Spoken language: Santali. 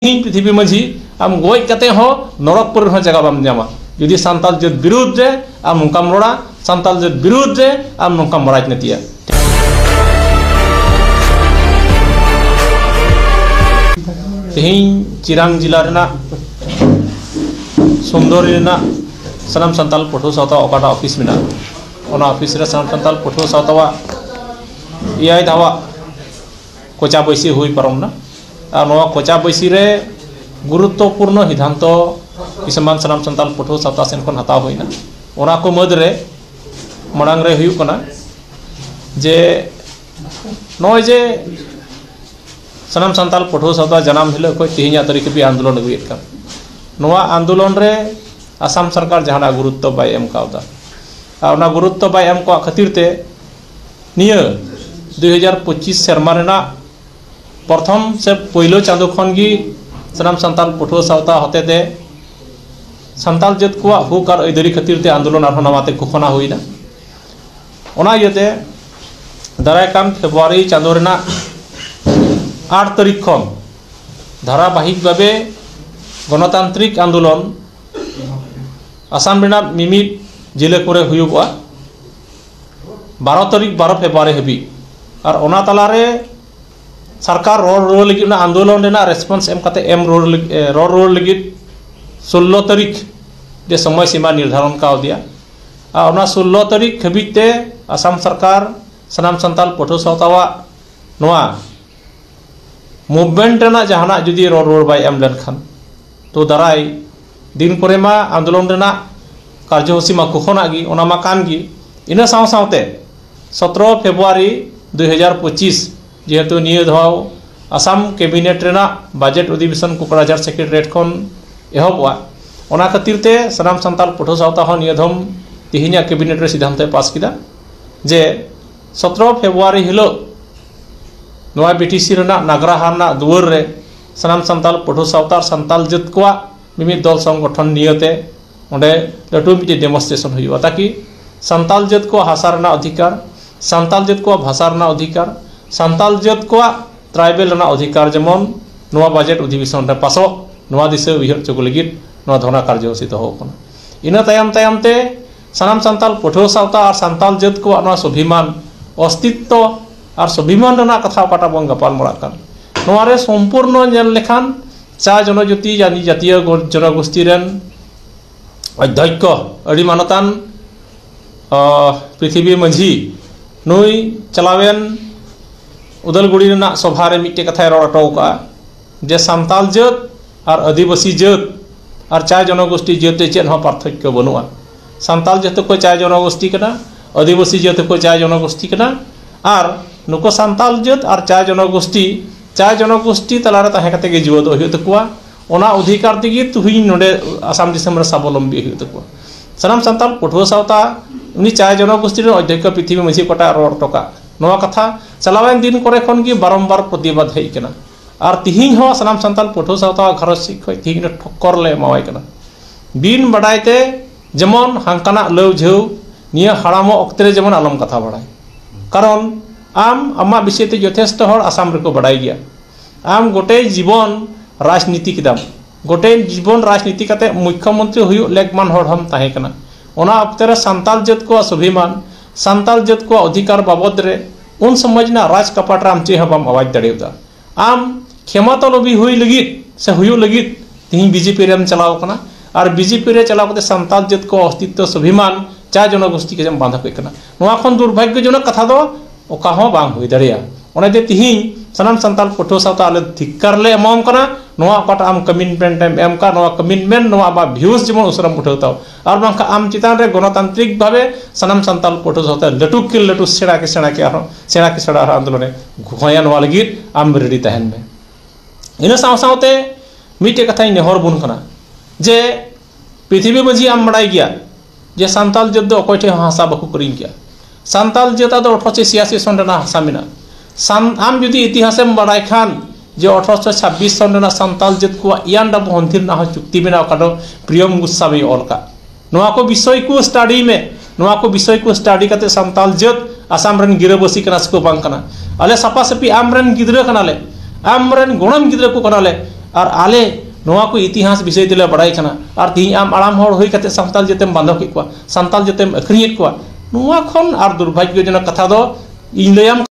ᱛᱮᱦᱮᱧ ᱯᱨᱤᱛᱷᱤᱵᱤ ᱢᱟᱹᱡᱷᱤ ᱟᱢ ᱜᱚᱡ ᱠᱟᱛᱮ ᱦᱚᱸ ᱱᱚᱨᱚᱠ ᱠᱚᱨᱮ ᱦᱚᱸ ᱡᱟᱭᱜᱟ ᱵᱟᱢ ᱧᱟᱢᱟ ᱡᱩᱫᱤ ᱥᱟᱱᱛᱟᱲ ᱡᱟᱹᱛ ᱵᱤᱨᱩᱫᱷ ᱨᱮ ᱟᱢ ᱱᱚᱝᱠᱟᱢ ᱨᱚᱲᱟ ᱥᱟᱱᱛᱟᱲ ᱡᱟᱹᱛ ᱵᱤᱨᱩᱫᱷ ᱨᱮ ᱟᱢ ᱱᱚᱝᱠᱟᱢ ᱨᱟᱡᱽᱱᱤᱛᱤᱭᱟ ᱛᱮᱦᱮᱧ ᱪᱤᱨᱟᱝ ᱡᱮᱞᱟ ᱨᱮᱱᱟᱜ ᱥᱩᱱᱫᱚᱨᱤ ᱨᱮᱱᱟᱜ ᱥᱟᱱᱟᱢ ᱥᱟᱱᱛᱟᱲ ᱯᱟᱹᱴᱷᱩᱣᱟᱹ ᱥᱟᱶᱛᱟ ᱚᱠᱟᱴᱟᱜ ᱚᱯᱷᱤᱥ ᱢᱮᱱᱟᱜᱼᱟ ᱚᱱᱟ ᱚᱯᱷᱤᱥ ᱨᱮ ᱥᱟᱱᱟᱢ ᱥᱟᱱᱛᱟᱲ ᱯᱟᱹᱴᱷᱩᱣᱟᱹ ᱥᱟᱶᱛᱟᱣᱟᱜ ᱮᱭᱟᱭ ᱫᱷᱟᱣᱟᱜ ᱠᱚᱪᱟ ᱵᱟᱹᱭᱥᱤ ᱦᱩᱭ ᱯᱟᱨᱚᱢᱱᱟ ᱟᱨ ᱱᱚᱣᱟ ᱠᱚᱪᱟ ᱵᱟᱹᱭᱥᱤ ᱨᱮ ᱜᱩᱨᱩᱛᱛᱚ ᱯᱩᱨᱱᱚ ᱥᱤᱫᱷᱟᱱᱛᱚ ᱥᱟᱱᱟᱢ ᱥᱟᱱᱛᱟᱲ ᱯᱟᱹᱴᱷᱩᱣᱟᱹ ᱥᱟᱶᱛᱟ ᱥᱮᱫ ᱠᱷᱚᱱ ᱦᱟᱛᱟᱣ ᱦᱩᱭᱱᱟ ᱚᱱᱟ ᱠᱚ ᱢᱩᱫᱽ ᱨᱮ ᱢᱟᱲᱟᱝ ᱨᱮ ᱦᱩᱭᱩᱜ ᱠᱟᱱᱟ ᱡᱮ ᱱᱚᱜᱼᱚᱭ ᱡᱮ ᱥᱟᱱᱟᱢ ᱥᱟᱱᱛᱟᱲ ᱯᱟᱹᱴᱷᱩᱣᱟᱹ ᱥᱟᱶᱛᱟ ᱡᱟᱱᱟᱢ ᱦᱤᱞᱳᱜ ᱠᱷᱚᱱ ᱛᱮᱦᱮᱧᱟᱜ ᱛᱟᱹᱨᱤᱠᱷ ᱦᱟᱹᱵᱤᱡ ᱟᱱᱫᱳᱞᱚᱱ ᱟᱹᱜᱩᱭᱮᱫ ᱠᱟᱱ ᱱᱚᱣᱟ ᱟᱱᱫᱳᱞᱚᱱ ᱨᱮ ᱟᱥᱟᱢ ᱥᱚᱨᱠᱟᱨ ᱡᱟᱦᱟᱱᱟᱜ ᱜᱩᱨᱩᱛᱛᱚ ᱵᱟᱭ ᱮᱢ ᱠᱟᱣᱫᱟ ᱟᱨ ᱚᱱᱟ ᱜᱩᱨᱩᱛᱛᱚ ᱵᱟᱭ ᱮᱢ ᱠᱟᱜ ᱠᱷᱟᱹᱛᱤᱨ ᱛᱮ ᱱᱤᱭᱟᱹ ᱫᱩ ᱦᱟᱡᱟᱨ ᱯᱚᱸᱪᱤᱥ ᱥᱮᱨᱢᱟ ᱨᱮᱱᱟᱜ ᱯᱨᱚᱛᱷᱚᱢ ᱥᱮ ᱯᱳᱭᱞᱳ ᱪᱟᱸᱫᱳ ᱠᱷᱚᱱ ᱜᱮ ᱥᱟᱱᱟᱢ ᱥᱟᱱᱛᱟᱲ ᱯᱟᱹᱴᱷᱩᱣᱟᱹ ᱥᱟᱶᱛᱟ ᱦᱚᱛᱮ ᱛᱮ ᱥᱟᱱᱛᱟᱲ ᱡᱟᱹᱛ ᱠᱚᱣᱟᱜ ᱦᱚᱸᱠ ᱟᱨ ᱟᱹᱭᱫᱟᱹᱨᱤ ᱠᱷᱟᱹᱛᱤᱨ ᱛᱮ ᱟᱱᱫᱳᱞᱚᱱ ᱟᱨᱦᱚᱸ ᱱᱟᱣᱟ ᱛᱮ ᱜᱷᱳᱥᱚᱱᱟ ᱦᱩᱭᱱᱟ ᱚᱱᱟ ᱤᱭᱟᱹ ᱛᱮ ᱫᱟᱨᱟᱭ ᱠᱟᱱ ᱯᱷᱮᱵᱽᱨᱩᱣᱟᱨᱤ ᱪᱟᱸᱫᱳ ᱨᱮᱱᱟᱜ ᱟᱴ ᱛᱟᱹᱨᱤᱠᱷ ᱠᱷᱚᱱ ᱫᱷᱟᱨᱟ ᱵᱟᱹᱦᱤᱠ ᱵᱷᱟᱵᱮ ᱜᱚᱱᱚᱛᱟᱱᱛᱨᱤᱠ ᱟᱱᱫᱳᱞᱚᱱ ᱟᱥᱟᱢ ᱨᱮᱱᱟᱜ ᱢᱤᱢᱤᱫ ᱡᱮᱞᱟᱹ ᱠᱚᱨᱮ ᱦᱩᱭᱩᱜᱚᱜᱼᱟ ᱵᱟᱨᱚ ᱛᱟᱹᱨᱤᱠᱷ ᱵᱟᱨᱚ ᱯᱷᱮᱵᱽᱨᱩᱣᱟᱨᱤ ᱦᱟᱹᱵᱤᱡ ᱟᱨ ᱚᱱᱟ ᱛᱟᱞᱟᱨᱮ ᱥᱚᱨᱠᱟᱨ ᱨᱚᱲ ᱨᱩᱣᱟᱹᱲ ᱞᱟᱹᱜᱤᱫ ᱚᱱᱟ ᱟᱱᱫᱳᱞᱚᱱ ᱨᱮᱱᱟᱜ ᱨᱮᱥᱯᱚᱱᱥ ᱮᱢ ᱠᱟᱛᱮᱫ ᱮᱢ ᱨᱩᱣᱟᱹᱲ ᱞᱟᱹᱜᱤᱫ ᱨᱚᱲ ᱨᱩᱣᱟᱹᱲ ᱞᱟᱹᱜᱤᱫ ᱥᱳᱞᱞᱳ ᱛᱟᱹᱨᱤᱠᱷ ᱡᱮ ᱥᱚᱢᱚᱭ ᱥᱤᱢᱟᱹ ᱱᱤᱨᱫᱷᱟᱨᱚᱱ ᱠᱟᱣᱫᱮᱭᱟ ᱟᱨ ᱚᱱᱟ ᱥᱳᱞᱞᱳ ᱛᱟᱹᱨᱤᱠᱷ ᱦᱟᱹᱵᱤᱡ ᱛᱮ ᱟᱥᱟᱢ ᱥᱚᱨᱠᱟᱨ ᱥᱟᱱᱟᱢ ᱥᱟᱱᱛᱟᱲ ᱯᱟᱹᱴᱷᱩᱣᱟᱹ ᱥᱟᱶᱛᱟᱣᱟᱜ ᱱᱚᱣᱟ ᱢᱩᱵᱷᱢᱮᱱᱴ ᱨᱮᱱᱟᱜ ᱡᱟᱦᱟᱱᱟᱜ ᱡᱩᱫᱤ ᱨᱚᱲ ᱨᱩᱣᱟᱹᱲ ᱵᱟᱭ ᱮᱢ ᱞᱮᱱᱠᱷᱟᱱ ᱛᱚ ᱫᱟᱨᱟᱭ ᱫᱤᱱ ᱠᱚᱨᱮ ᱢᱟ ᱟᱱᱫᱳᱞᱚᱱ ᱨᱮᱱᱟᱜ ᱠᱟᱨᱡᱚ ᱥᱩᱪᱤ ᱢᱟ ᱠᱚᱠᱷᱚᱱᱟᱜ ᱜᱮ ᱚᱱᱟ ᱢᱟ ᱠᱟᱱ ᱜᱮ ᱤᱱᱟᱹ ᱥᱟᱶ ᱥᱟᱶᱛᱮ ᱥᱚᱛᱨᱚ ᱯᱷᱮᱵᱽᱨᱩᱣᱟᱨᱤ ᱫᱩ ᱦᱟᱡᱟᱨ ᱯᱚᱸᱪᱤᱥ ᱡᱮᱦᱮᱛᱩ ᱱᱤᱭᱟᱹ ᱫᱷᱟᱣ ᱟᱥᱟᱢ ᱠᱮᱵᱤᱱᱮᱴ ᱨᱮᱱᱟᱜ ᱵᱟᱡᱮᱴ ᱚᱫᱷᱤᱵᱮᱥᱚᱱ ᱠᱚᱠᱲᱟᱡᱟᱨ ᱥᱮᱠᱨᱮᱴᱟᱨᱤᱭᱮᱴ ᱠᱷᱚᱱ ᱮᱦᱚᱵᱚᱜᱼᱟ ᱚᱱᱟ ᱠᱷᱟᱹᱛᱤᱨ ᱛᱮ ᱥᱟᱱᱟᱢ ᱥᱟᱱᱛᱟᱲ ᱯᱟᱹᱴᱷᱩᱣᱟᱹ ᱥᱟᱶᱛᱟ ᱦᱚᱸ ᱱᱤᱭᱟᱹ ᱫᱷᱚᱢ ᱛᱮᱦᱮᱧᱟᱜ ᱠᱮᱵᱤᱱᱮᱴ ᱨᱮ ᱥᱤᱫᱽᱫᱷᱟᱱᱛᱚᱭ ᱯᱟᱥ ᱠᱮᱫᱟ ᱡᱮ ᱥᱚᱛᱨᱚ ᱯᱷᱮᱵᱽᱨᱩᱣᱟᱨᱤ ᱦᱤᱞᱳᱜ ᱱᱚᱣᱟ ᱵᱤᱴᱤᱥᱤ ᱨᱮᱱᱟᱜ ᱱᱟᱜᱽᱨᱟᱦᱟ ᱨᱮᱱᱟᱜ ᱫᱩᱣᱟᱹᱨ ᱨᱮ ᱥᱟᱱᱟᱢ ᱥᱟᱱᱛᱟᱞ ᱯᱟᱹᱴᱷᱩᱣᱟᱹ ᱥᱟᱶᱛᱟ ᱟᱨ ᱥᱟᱱᱛᱟᱞ ᱡᱟᱹᱛ ᱠᱚᱣᱟᱜ ᱢᱤᱢᱤᱫ ᱫᱚᱞ ᱥᱚᱝᱜᱚᱴᱷᱚᱱ ᱱᱤᱭᱟᱹᱛᱮ ᱚᱸᱰᱮ ᱞᱟᱹᱴᱩ ᱢᱤᱫᱴᱤᱡ ᱰᱮᱢᱚᱱᱥᱴᱨᱮᱥᱚᱱ ᱦᱩᱭᱩᱜᱼᱟ ᱛᱟᱠᱤ ᱥᱟᱱᱛᱟᱞ ᱡᱟᱹᱛ ᱠᱚᱣᱟᱜ ᱦᱟᱥᱟ ᱨᱮᱱᱟᱜ ᱚᱫᱷᱤᱠᱟᱨ ᱥᱟᱱᱛᱟᱞ ᱡᱟᱹᱛ ᱠᱚᱣᱟᱜ ᱵᱷᱟᱥᱟ ᱨᱮᱱᱟᱜ ᱚᱫᱷᱤᱠᱟᱨ ᱥᱟᱱᱛᱟᱞ ᱡᱟᱹᱛ ᱠᱚᱣᱟᱜ ᱴᱨᱟᱭᱵᱮᱞ ᱨᱮᱱᱟᱜ ᱚᱫᱷᱤᱠᱟᱨ ᱡᱮᱢᱚᱱ ᱱᱚᱣᱟ ᱵᱟᱡᱮᱴ ᱚᱫᱷᱤᱵᱮᱥᱚᱱ ᱨᱮ ᱯᱟᱥᱚᱜ ᱱᱚᱣᱟ ᱫᱤᱥᱟᱹ ᱩᱭᱦᱟᱹᱨ ᱦᱚᱪᱚ ᱠᱚ ᱞᱟᱹᱜᱤᱫ ᱱᱚᱣᱟ ᱫᱷᱚᱨᱱᱟ ᱠᱟᱨᱡᱚᱥᱩᱪᱤ ᱫᱚᱦᱚ ᱟᱠᱟᱱᱟ ᱤᱱᱟᱹ ᱛᱟᱭᱚᱢ ᱛᱟᱭᱚᱢ ᱛᱮ ᱥᱟᱱᱟᱢ ᱥᱟᱱᱛᱟᱞ ᱯᱟᱹᱴᱷᱩᱣᱟᱹ ᱥᱟᱶᱛᱟ ᱟᱨ ᱥᱟᱱᱛᱟᱞ ᱡᱟᱹᱛ ᱠᱚᱣᱟᱜ ᱱᱚᱣᱟ ᱥᱚᱵᱷᱤᱢᱟᱱ ᱚᱥᱛᱤᱛᱛᱚ ᱟᱨ ᱥᱚᱵᱷᱤᱢᱟᱱ ᱨᱮᱱᱟᱜ ᱠᱟᱛᱷᱟ ᱚᱠᱟᱴᱟᱜ ᱵᱚᱱ ᱜᱟᱯᱟᱞ ᱢᱟᱨᱟᱜ ᱠᱟᱱ ᱱᱚᱣᱟ ᱨᱮ ᱥᱚᱢᱯᱩᱨᱱᱚ ᱧᱮᱞ ᱞᱮᱠᱷᱟᱱ ᱪᱟ ᱡᱚᱱᱚ ᱡᱟᱹᱛᱤ ᱟᱹᱰᱤ ᱡᱟᱹᱛᱤᱭᱚ ᱡᱚᱱᱚ ᱜᱩᱥᱴᱤ ᱨᱮᱱ ᱚᱫᱽᱫᱷᱚᱠᱠᱚ ᱟᱹᱰᱤ ᱢᱟᱱᱚᱛᱟᱱ ᱯᱨᱤᱛᱷᱤᱵᱤ ᱢᱟᱹᱡᱷᱤ ᱱᱩᱭ ᱪᱟᱞᱟᱣᱮᱱ ᱩᱫᱟᱹᱞᱜᱩᱲᱤ ᱨᱮᱱᱟᱜ ᱥᱚᱵᱷᱟ ᱨᱮ ᱢᱤᱫᱴᱮᱱ ᱠᱟᱛᱷᱟᱭ ᱨᱚᱲ ᱦᱚᱴᱚ ᱠᱟᱜᱼᱟ ᱡᱮ ᱥᱟᱱᱛᱟᱲ ᱡᱟᱹᱛ ᱟᱨ ᱟᱹᱫᱤᱵᱟᱹᱥᱤ ᱡᱟᱹᱛ ᱟᱨ ᱪᱟᱭ ᱡᱚᱱᱚᱜᱳᱥᱴᱤ ᱡᱟᱹᱛ ᱨᱮ ᱪᱮᱫ ᱦᱚᱸ ᱯᱟᱨᱛᱷᱚᱠᱠᱚ ᱵᱟᱹᱱᱩᱜᱼᱟ ᱥᱟᱱᱛᱟᱲ ᱡᱟᱹᱛ ᱦᱚᱸᱠᱚ ᱪᱟᱭ ᱡᱚᱱᱚᱜᱳᱥᱴᱤ ᱠᱟᱱᱟ ᱟᱹᱫᱤᱵᱟᱹᱥᱤ ᱡᱟᱹᱛ ᱦᱚᱸᱠᱚ ᱪᱟᱭ ᱡᱚᱱᱚᱜᱳᱥᱴᱤ ᱠᱟᱱᱟ ᱟᱨ ᱱᱩᱠᱩ ᱥᱟᱱᱛᱟᱲ ᱡᱟᱹᱛ ᱟᱨ ᱪᱟᱭ ᱡᱚᱱᱚᱜᱳᱥᱴᱤ ᱪᱟᱭ ᱡᱚᱱᱚᱜᱳᱥᱴᱤ ᱛᱟᱞᱟᱨᱮ ᱛᱟᱦᱮᱸ ᱠᱟᱛᱮᱫ ᱜᱮ ᱡᱤᱣᱭᱮᱫᱚᱜ ᱦᱩᱭᱩᱜ ᱛᱟᱠᱚᱣᱟ ᱚᱱᱟ ᱚᱫᱷᱤᱠᱟᱨ ᱛᱮᱜᱮ ᱛᱮᱦᱮᱧ ᱱᱚᱰᱮ ᱟᱥᱟᱢ ᱫᱤᱥᱚᱢ ᱨᱮ ᱥᱟᱵᱚᱞᱚᱢᱵᱤ ᱦᱩᱭᱩᱜ ᱛᱟᱠᱚᱣᱟ ᱥᱟᱱᱟᱢ ᱥᱟᱱᱛᱟᱲ ᱯᱟᱹᱴᱷᱩᱣᱟᱹ ᱥᱟᱶᱛᱟ ᱩᱱᱤ ᱪᱟᱭ ᱡᱚᱱᱚᱜᱳᱥᱴᱤ ᱨᱮᱱ ᱚᱫᱽᱫᱷᱚᱠᱠᱷᱚ ᱯᱨᱤᱛᱷᱤᱵᱤ ᱢᱟᱹᱡᱷᱤ ᱚᱠᱟᱴᱟᱜ ᱨᱚᱲ ᱦᱚᱴᱚ ᱠᱟᱜ ᱱᱚᱣᱟ ᱠᱟᱛᱷᱟ ᱪᱟᱞᱟᱣᱮᱱ ᱫᱤᱱ ᱠᱚᱨᱮ ᱠᱷᱚᱱ ᱜᱮ ᱵᱟᱨᱚᱢᱵᱟᱨ ᱯᱨᱚᱛᱤᱵᱟᱫᱽ ᱦᱮᱡ ᱟᱠᱟᱱᱟ ᱟᱨ ᱛᱤᱦᱤᱧ ᱦᱚᱸ ᱥᱟᱱᱟᱢ ᱥᱟᱱᱛᱟᱲ ᱯᱟᱹᱴᱷᱩᱣᱟᱹ ᱥᱟᱶᱛᱟ ᱜᱷᱟᱨᱚᱸᱡᱽ ᱥᱮᱫ ᱠᱷᱚᱱ ᱛᱤᱦᱤᱧ ᱫᱚ ᱴᱷᱚᱠᱠᱚᱨ ᱞᱮ ᱮᱢᱟᱣᱟᱭ ᱠᱟᱱᱟ ᱵᱤᱱ ᱵᱟᱰᱟᱭ ᱛᱮ ᱡᱮᱢᱚᱱ ᱦᱟᱱᱠᱟᱱᱟᱜ ᱞᱟᱹᱣ ᱡᱷᱟᱹᱣ ᱱᱤᱭᱟᱹ ᱦᱟᱲᱟᱢᱚᱜ ᱚᱠᱛᱮ ᱨᱮ ᱡᱮᱢᱚᱱ ᱟᱞᱚᱢ ᱠᱟᱛᱷᱟ ᱵᱟᱲᱟᱭ ᱠᱟᱨᱚᱱ ᱟᱢ ᱟᱢᱟᱜ ᱵᱤᱥᱚᱭ ᱛᱮ ᱡᱚᱛᱷᱮᱥᱴᱚ ᱦᱚᱲ ᱟᱥᱟᱢ ᱨᱮᱠᱚ ᱵᱟᱰᱟᱭ ᱜᱮᱭᱟ ᱟᱢ ᱜᱚᱴᱮ ᱡᱤᱵᱚᱱ ᱨᱟᱡᱽᱱᱤᱛᱤ ᱠᱮᱫᱟᱢ ᱜᱚᱴᱮ ᱡᱤᱵᱚᱱ ᱨᱟᱡᱽᱱᱤᱛᱤ ᱠᱟᱛᱮᱫ ᱢᱩᱠᱠᱷᱚ ᱢᱚᱱᱛᱨᱤ ᱦᱩᱭᱩᱜ ᱞᱮᱠ ᱢᱟᱱ ᱦᱚᱲ ᱦᱚᱸᱢ ᱛᱟᱦᱮᱸ ᱠᱟᱱᱟ ᱚᱱᱟ ᱚᱠᱛᱮ ᱨᱮ ᱥᱟᱱᱛᱟᱲ ᱡᱟᱹᱛ ᱠᱚᱣᱟᱜ ᱥᱚᱵᱷᱤᱢᱟᱱ ᱥᱟᱱᱛᱟᱲ ᱡᱟᱹᱛ ᱠᱚᱣᱟᱜ ᱚᱫᱷᱤᱠᱟᱨ ᱵᱟᱵᱚᱫᱽ ᱨᱮ ᱩᱱ ᱥᱚᱢᱚᱭ ᱨᱮᱱᱟᱜ ᱨᱟᱡᱽ ᱠᱟᱯᱟᱴ ᱨᱮ ᱟᱢ ᱪᱮᱫ ᱦᱚᱸ ᱵᱟᱢ ᱟᱣᱟᱡᱽ ᱫᱟᱲᱮᱭᱟᱫᱟ ᱟᱢ ᱠᱷᱮᱢᱟᱛᱚ ᱞᱚᱵᱤ ᱦᱩᱭ ᱞᱟᱹᱜᱤᱫ ᱥᱮ ᱦᱩᱭᱩᱜ ᱞᱟᱹᱜᱤᱫ ᱛᱮᱦᱮᱧ ᱵᱤ ᱡᱮ ᱯᱤ ᱨᱮᱢ ᱪᱟᱞᱟᱣ ᱠᱟᱱᱟ ᱟᱨ ᱵᱤ ᱡᱮ ᱯᱤ ᱨᱮ ᱪᱟᱞᱟᱣ ᱠᱟᱛᱮ ᱥᱟᱱᱛᱟᱲ ᱡᱟᱹᱛ ᱠᱚ ᱚᱥᱛᱤᱛᱛᱚ ᱥᱚᱵᱷᱤᱢᱟᱱ ᱪᱟ ᱡᱚᱱᱚ ᱜᱩᱥᱴᱤ ᱠᱟᱛᱮ ᱮᱢ ᱵᱟᱫᱷᱟ ᱠᱮᱫ ᱠᱟᱱᱟ ᱱᱚᱣᱟ ᱠᱷᱚᱱ ᱫᱩᱨᱵᱷᱟᱜᱽᱜᱚ ᱡᱚᱱᱚᱠ ᱠᱟᱛᱷᱟ ᱫᱚ ᱚᱠᱟ ᱦᱚᱸ ᱵᱟᱝ ᱦᱩᱭ ᱫᱟᱲᱮᱭᱟᱜᱼᱟ ᱚᱱᱟ ᱛᱮ ᱛᱮᱦᱮᱧ ᱥᱟᱱᱟᱢ ᱥᱟᱱᱛᱟᱲ ᱯᱟᱹᱴᱷᱩᱣᱟᱹ ᱥᱟᱶᱛᱮ ᱟᱞᱮ ᱫᱷᱤᱠᱠᱟᱨ ᱞᱮ ᱮᱢᱟᱢ ᱠᱟᱱᱟ ᱱᱚᱣᱟ ᱚᱠᱟᱴᱟᱜ ᱟᱢ ᱠᱚᱢᱤᱴᱢᱮᱱᱴ ᱮᱢ ᱮᱢ ᱠᱟᱜ ᱱᱚᱣᱟ ᱠᱚᱢᱤᱴᱢᱮᱱᱴ ᱱᱚᱣᱟ ᱟᱢᱟᱜ ᱵᱷᱤᱭᱩᱥ ᱡᱮᱢᱚᱱ ᱩᱥᱟᱹᱨᱟᱢ ᱩᱴᱷᱟᱹᱣ ᱛᱟᱢ ᱟᱨ ᱵᱟᱝᱠᱷᱟᱱ ᱟᱢ ᱪᱮᱛᱟᱱ ᱨᱮ ᱜᱚᱱᱚᱛᱟᱱᱛᱨᱤᱠ ᱵᱷᱟᱵᱮ ᱥᱟᱱᱟᱢ ᱥᱟᱱᱛᱟᱲ ᱯᱟᱹᱴᱷᱩᱣᱟᱹ ᱥᱟᱶᱛᱮ ᱞᱟᱹᱴᱩ ᱠᱮ ᱞᱟᱹᱴᱩ ᱥᱮᱬᱟ ᱠᱮ ᱥᱮᱬᱟ ᱠᱮ ᱟᱨᱦᱚᱸ ᱥᱮᱬᱟ ᱠᱮ ᱥᱮᱬᱟ ᱟᱨᱦᱚᱸ ᱟᱱᱫᱳᱞᱚᱱᱮ ᱦᱚᱦᱚᱭᱟ ᱱᱚᱣᱟ ᱞᱟᱹᱜᱤᱫ ᱟᱢ ᱨᱮᱰᱤ ᱛᱟᱦᱮᱱ ᱢᱮ ᱤᱱᱟᱹ ᱥᱟᱶ ᱥᱟᱶᱛᱮ ᱢᱤᱫᱴᱮᱡ ᱠᱟᱛᱷᱟᱧ ᱱᱮᱦᱚᱨ ᱟᱵᱚᱱ ᱠᱟᱱᱟ ᱡᱮ ᱯᱨᱤᱛᱷᱤᱵᱤ ᱢᱟᱹᱡᱷᱤ ᱟᱢ ᱵᱟᱲᱟᱭ ᱜᱮᱭᱟ ᱡᱮ ᱥᱟᱱᱛᱟᱲ ᱡᱟᱹᱛ ᱫᱚ ᱚᱠᱚᱭ ᱴᱷᱮᱡ ᱦᱚᱸ ᱦᱟᱥᱟ ᱵᱟᱠᱚ ᱠᱤᱨᱤᱧ ᱠᱮᱭᱟ ᱥᱟᱱᱛᱟᱞ ᱡᱟᱹᱛ ᱟᱜ ᱫᱚ ᱟᱴᱷᱨᱚᱥᱚ ᱪᱷᱤᱭᱟᱥᱤ ᱥᱚᱱ ᱨᱮᱱᱟᱜ ᱦᱟᱥᱟ ᱢᱮᱱᱟᱜᱼᱟ ᱥᱟᱱ ᱟᱢ ᱡᱩᱫᱤ ᱤᱛᱤᱦᱟᱥᱮᱢ ᱵᱟᱲᱟᱭ ᱠᱷᱟᱱ ᱡᱮ ᱟᱴᱷᱨᱚᱥᱚ ᱪᱷᱟᱵᱵᱤᱥ ᱥᱚᱱ ᱨᱮᱱᱟᱜ ᱥᱟᱱᱛᱟᱞ ᱡᱟᱹᱛ ᱠᱚᱣᱟᱜ ᱤᱭᱟᱱ ᱰᱟᱵᱩ ᱦᱚᱱᱛᱤᱨ ᱨᱮᱱᱟᱜ ᱦᱚᱸ ᱪᱩᱠᱛᱤ ᱢᱮᱱᱟᱜᱼᱟ ᱚᱠᱟ ᱫᱚ ᱯᱨᱤᱭᱚᱢ ᱜᱩᱥᱟᱢᱤ ᱚᱞ ᱠᱟᱜ ᱱᱚᱣᱟ ᱠᱚ ᱵᱤᱥᱚᱭ ᱠᱚ ᱥᱴᱟᱰᱤᱭ ᱢᱮ ᱱᱚᱣᱟ ᱠᱚ ᱵᱤᱥᱚᱭ ᱠᱚ ᱥᱴᱟᱰᱤ ᱠᱟᱛᱮ ᱥᱟᱱᱛᱟᱞ ᱡᱟᱹᱛ ᱟᱥᱟᱢ ᱨᱮᱱ ᱜᱤᱨᱟᱹᱵᱟᱹᱥᱤ ᱠᱟᱱᱟ ᱥᱮᱠᱚ ᱵᱟᱝ ᱠᱟᱱᱟ ᱟᱞᱮ ᱥᱟᱯᱷᱟ ᱥᱟᱹᱯᱷᱤ ᱟᱢ ᱨᱮᱱ ᱜᱤᱫᱽᱨᱟᱹ ᱠᱟᱱᱟᱞᱮ ᱟᱢ ᱨᱮᱱ ᱜᱚᱲᱚᱢ ᱜᱤᱫᱽᱨᱟᱹ ᱠᱚ ᱠᱟᱱᱟᱞᱮ ᱟᱨ ᱟᱞᱮ ᱱᱚᱣᱟ ᱠᱚ ᱤᱛᱤᱦᱟᱥ ᱵᱤᱥᱚᱭ ᱛᱮᱞᱮ ᱵᱟᱲᱟᱭ ᱠᱟᱱᱟ ᱟᱨ ᱛᱮᱦᱮᱧ ᱟᱢ ᱦᱟᱲᱟᱢ ᱦᱚᱲ ᱦᱩᱭ ᱠᱟᱛᱮ ᱥᱟᱱᱛᱟᱞ ᱡᱟᱹᱛᱮᱢ ᱵᱟᱫᱷᱟ ᱠᱮᱫ ᱠᱚᱣᱟ ᱥᱟᱱᱛᱟᱲ ᱡᱟᱹᱛᱤᱢ ᱟᱹᱠᱷᱨᱤᱧᱮᱫ ᱠᱚᱣᱟ ᱱᱚᱣᱟ ᱠᱷᱚᱱ ᱟᱨ ᱫᱩᱨᱵᱷᱟᱜᱽᱜᱚ ᱡᱚᱱᱚᱠ ᱠᱟᱛᱷᱟ ᱫᱚ ᱤᱧ ᱞᱟᱹᱭᱟᱢ